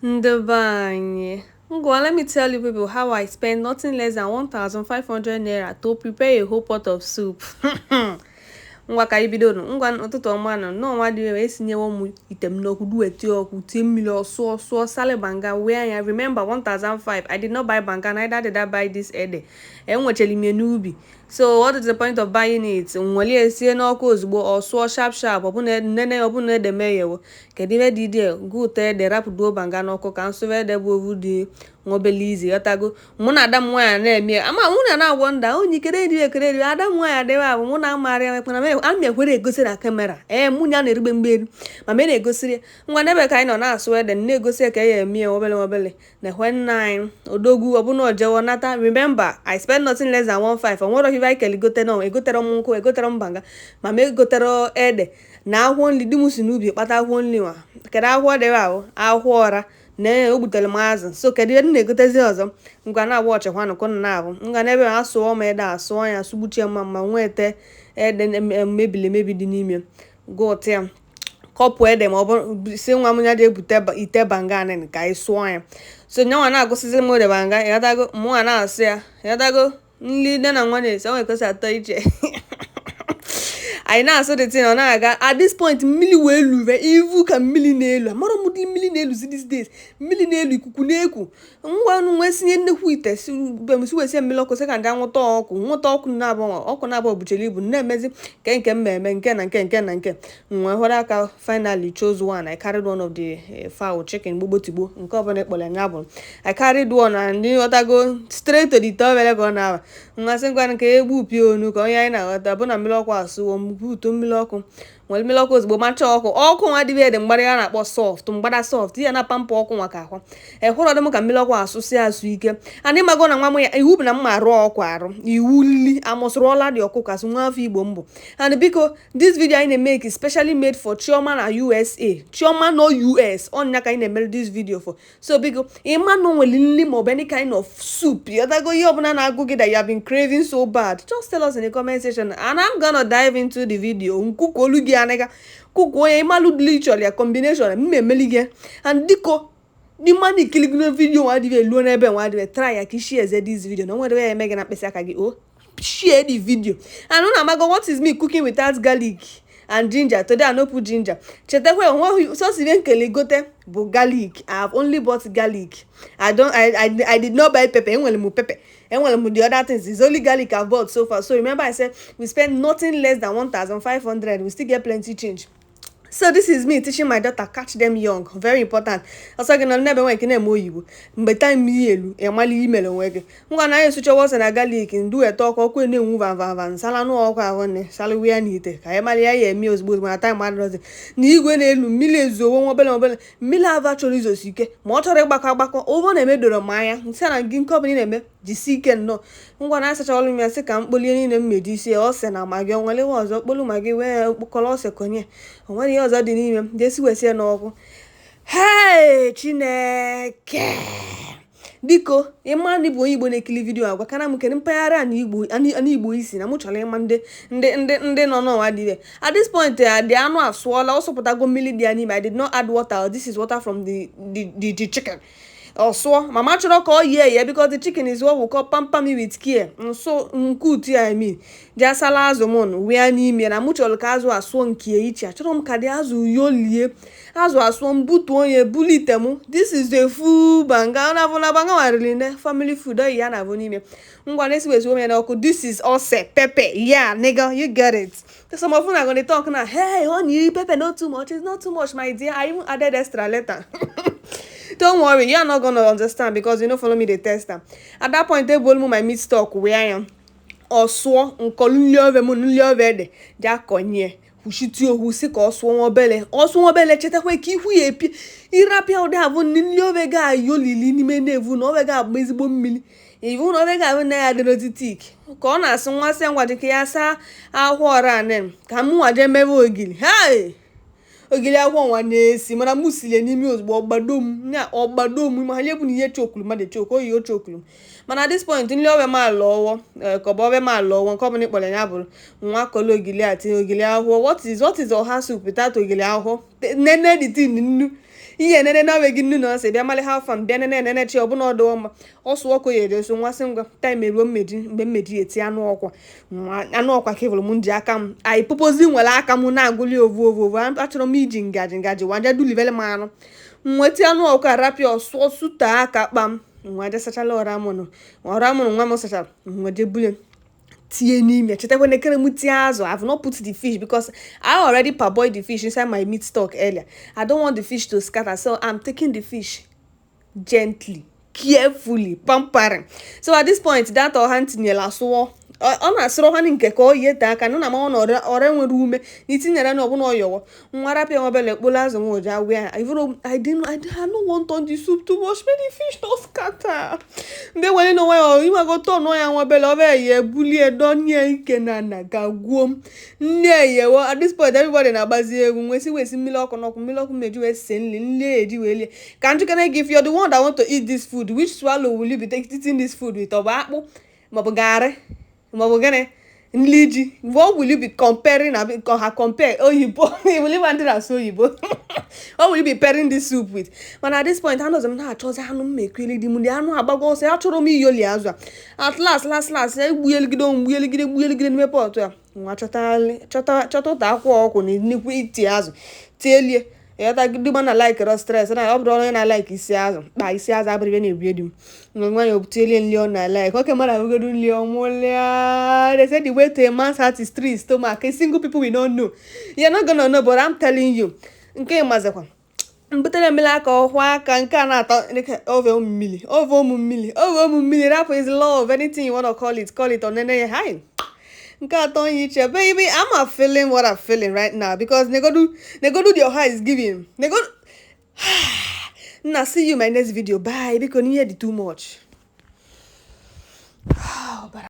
Ndị be anyị, ngwa let me tell you people how I spend nothing less than 1500 naira to prepare a whole pot of soup. ngwa ka anyị bido nụ ngwa ụtụtụ ọma nụ nnọọ nwa dịbe esinyewo m ite m n'ọkụ duweti ọkụ tie mmiri ọ sụọ ọ sụọ salị banga wee anya remember 1005 I did not buy banga neither did I buy this ede enwechara m ya n'ubi so what is the point of buying it m were sie n'ọkụ ozugbo ọ sụọ sharp sharp ọ bụ na nene ọ bụ na ede m eghewo kedu ihe dị dị gụta ede rapụduo banga n'ọkụ ka m sụwa ede bụ ovu dị nwobele izi ịghọtago mụ na ada m nwaanyị na-eme ama mụ na na-agwọ nda onye ikere eri ekere eri ada m nwaanyị adịghị abụ mụ na amarị ya mekpana ama ekwere egosi na kamera ee mụ ya na-erigbe mgbe eri ma me na-egosiri ngwa n'ebe ka anyị nọ na-asụ ede na-egosi ka a ya-eme nwobele nwobele nekwe nna anyị odogwu ọ bụ na o jewo nata remember i spend nothing less than 15 o nwerọ ive anyị kele gote na egoterọ m nkụ egoterọ m banga ma m egoterọ ede na akwụkwọ nri di m si n'ubi kpata akwụkwọ nri nwa kedu akwụkwọ dịbe ahụ akwụkwọ ọra na o gbutere m azụ so kedu ihe m na-egotezi ọzọ ngwa na-awatchịkwanụ ka ụnụ na-avụ ngwa n'ebe asụọ m ede asụọ ya sụgbuchie mma mma nwete ede mebiri emebi dị n'ime gụta ya kọpụ ede ma ọ bụrụ sị nwa m ya jee bute ite banga anịnị ka anyị sụọ ya so nyanwa na-agụsịzi m odo banga ịghọtago mụnwa na-asụ ya ịghọtago nri nne na nwa na-esi o nwe ka o si atọ iche anyị na-asụ the thing ọ na-aga at this point mmiri wee luwe ị vụ ka mmiri na-elu amarọ m ụdị mmiri na-eluzi these days mmiri na-elu ikuku na-eku ngwa nụ m wee sinye nnukwu ite si be m si wee sie mmiri ọkụ sị ka m jee nwụta ọkụkụ nwụta ọkụkụ na-abụ ọkụkụ na-abụ o buchara ibu na-emezi nke nke mmemme nke na nke nke na nke m wee họrọ aka finally chose one I carried one of the eh, fowl chicken gbogbotigbo nke ọbụla ị kpọrọ ya nya bụ I carried one and ịghọtago straight to the ite obere ka ọ na-aba m wee sị ngwa ka e gbupụ ya onu ka onye anyị na-aghọta bụ na mmiri ọkụ asụwo m butu mmiri ọkụ m were mmiri ọkụ ozugbo macha ọkụkụ nwa dịbe ede mgbada ya na-akpọ soft mgbada soft ya na pamper ọkụkụ nwa ka ahụ ehụrụ dị m ka mmiri ọkụ asụsị asụ ike anyị mago na nwa m ya iwu bụ na m ma arụ ọkụ arụ iwu nli amụsụrụ ọla dị ọkụ kasị nwa afọ Igbo m bụ and biko this video anyị na-make is specially made for Chioma na USA Chioma nọ US ọ nya ka anyị na-emere this video for so biko ịma na o nwere nri maọbụ any kind of soup ịghọtago ihe ọbụla na-agụ gị that you have been craving so bad just tell us in the comment section and I'm gonna dive into the video m cookolu gị anaga kuku onye ịmalụ ụdị ị chọrọ ya combination m na-emeli gị and biko ị ma na i kili vidio nwa dịbe eluo n'ebe nwa dịbe try ya ka ị sharezie this vidio na o nwerọ ihe ọ ya-eme gị na mkpịsị aka gị o oh. share the video and unu amago what is me cooking without garlic and ginger today i no put ginger chetakwa enweghị sosi ihe nkele gote bụ garlic i have only bought garlic i don i i, I did not buy pepper enwere m pepper enwere m the other things it's only garlic i bought so far so remember i said we spend nothing less than 1500 we still get plenty change so this is me teaching my daughter catch them young very important ọ sọ gị nọ n'ebe nwe nke ị na-eme oyibo mgbe time ya elu ị mala ihe i mere onwe gị ngwa na anyị sụchawa ose na garlic m duwete ọkụ ọkụ na-enwu vavava m salụ anụ ọkụkụ ahụ nne salụwa ya n'ite ka anyị mara ihe a ya-eme ozugbo ozugbo na time adịrọzi na igwe na-elu mmiri ezowo nwa obele obele mmiri avụ achọrọ izosi ike ma ọ chọrọ ịgbakọ agbakọ ụgbọ na-emedoro m anya m sị na gị nke ọbụla ị na-eme jisi ike nnọọ ngwa na asacha anụ m ya sị ka m kpolie niile m meji isi ya ose na magi o nwere ihe ọzọ kpolu magi wee kpọkọrọ ose konye o nwere ihe ọzọ dị n'ime m jesi wee sie n'ọkụ hei chineke biko ị ma na ị bụ onye igbo na-ekiri vidiyo a gwakana m kedu mpaghara ana igbo ana- ana igbo i si na mụ chọrọ ịma ndị ndị ndị ndị nọ n'ụwa dị ire at this point eh, the anụ asụọla ọ sụpụtago mmiri dị ya n'ime i did not add water this is water from the the the, the chicken ọ sụọ mana m achọrọ ka o yie eye because the chicken is what we call pamper me with care nso nke utu ya emi bịa sala azụ m nụ wee n'ime na mụ chọrọ ka azụ asụọ nke iche achọrọ m ka the azụ yolie azụ asụọ m butuo onye bulite m this is the full banga na bụla banga wariri ne family food oyi ya na-abụ n'ime ngwa na-esiwezi ove n'ọkụ this is ose pepper yeah nigga you get it some of una go dey talk now hey honey pepper no too much it's not too much my dear i even added extra later don't worry you are not gonna understand because you no follow me dey taste am at that point table mu my meat stock where i am ọ sụọ m kolu nri ove m nri ove ede je konye kwuchiti ohu si ka ọ sụọ nwa obele ọ sụọ nwa obele chetakwa ka ihu ya epi ị rapịa ede a bụ nri ove ga-ayolili n'ime na i vu na ove ga-agba ezigbo mmiri i vu na ove ga-abụ na ya adịrọzi thick ka ọ na-asụ nwa sị ngwa dịka ya saa akwụkwọ ọra anen ka m nwa jee mebe ogiri hei ogiri akwụkwọ nwa na-esi mana m silie n'ime ozugbo ọ gbado m na ọ gbado m ma ha nye bụ na ihe chokulu mmadụ chok oyi o chokulu mana at this point nri ove m alọwo eh, ka ọ bụ ove m alọwo nke ọ bụla ị kpọrọ ya bụrụ nwa kolu ogiri a tinye ogiri akwụkwọ what is what is ọha soup without ogiri akwụkwọ nene the thing nnu ihe enene na gị nnu na ose bịa mali ha fam bịa nene enene chi ọ bụ na ọdụ ọma ọsụ ọkụ ya ede so nwasị ngwa time eruo mmedi mgbe mmedi eti anụ ọkụkọ anụ ọkụkọ ka i vulu m ji aka m anyị purposely were aka m na-agụli ovu ovu ovu achọrọ m iji ngaji ngaji waja dulivele m anụ nweta anụ ọkụ arapịa ọ sụọ sụta aka kpam nwa je sachala ọra mụnụ ọra mụnụ nwa m sachara nwa je bule tinye n'ime chetakwa na ekere m tinye azụ I've not put the fish because I already parboiled the fish inside my meat stock earlier I don't want the fish to scatter so I'm taking the fish gently carefully pampering so at this point that ọha m tinyela asụọ ọ na-asụrụ ha nke ka o yie taa aka na na ma ọ na ọra nwere ume na i tinyere na ọ bụ na o yewo nwa rapịa nwa obele kpolu azụ nwa ụja wee ifuru I didn't I didn't- I no want turn the soup too much make the fish no scatter mgbe were na onwe ya ịmago turn ya nwa obele ọ bịa ya ebulie dọnie ike na na ga gwuo m nri eyewo at this point everybody na-agbazi egwu nwee si wee si mmiri ọkụ n'ọkụ mmiri ọkụ meji wee sie nri nri eji wee lie ka m jụkene gị if you're the one that want to eat this food which swallow will you be taking eating this food with ọ bụ akpụ maọbụ garị maọbụ gịnị nli ji what will you be comparing na ha compare oyibo iwuliba ndị na-asụ oyibo what will you be pairing this soup with mana at this point anọzi m na-achọzi anụ m mekweli di m ndị anụ agbago ọsọ achọrọ m iyoli azụ a at last last last ya egbuyeligide onwe gbuyeligide gbuyeligide n'ime pọtụ a nwa chọta chọta chọta ụta akwụ ọkụ na nnukwu iti azụ tielie ị ghọta di m a na like rọ stress na ọ bụrụ onye na like isi azụ kpa isi azụ abụrụ ibe na-ebie di m nwa nwa ya obuteli nri ọ na like oke mara agogodu nri ọ mụlịa they say the way to a man's heart is through his stomach a single people we don't know you're not gonna know but I'm telling you nke ịmazikwa m butere mmiri aka ọ kwọọ aka nke a na-atọ ove ụmụ mmiri ove ụmụ mmiri ove ụmụ mmiri rapụ is love anything you wanna call it call it ọnene ya hi nke atọ onye iche baby I'm not feeling what I'm feeling right now because negodu negodu your heart is giving negodu nna see you in my next video bye biko n'ihe dị too much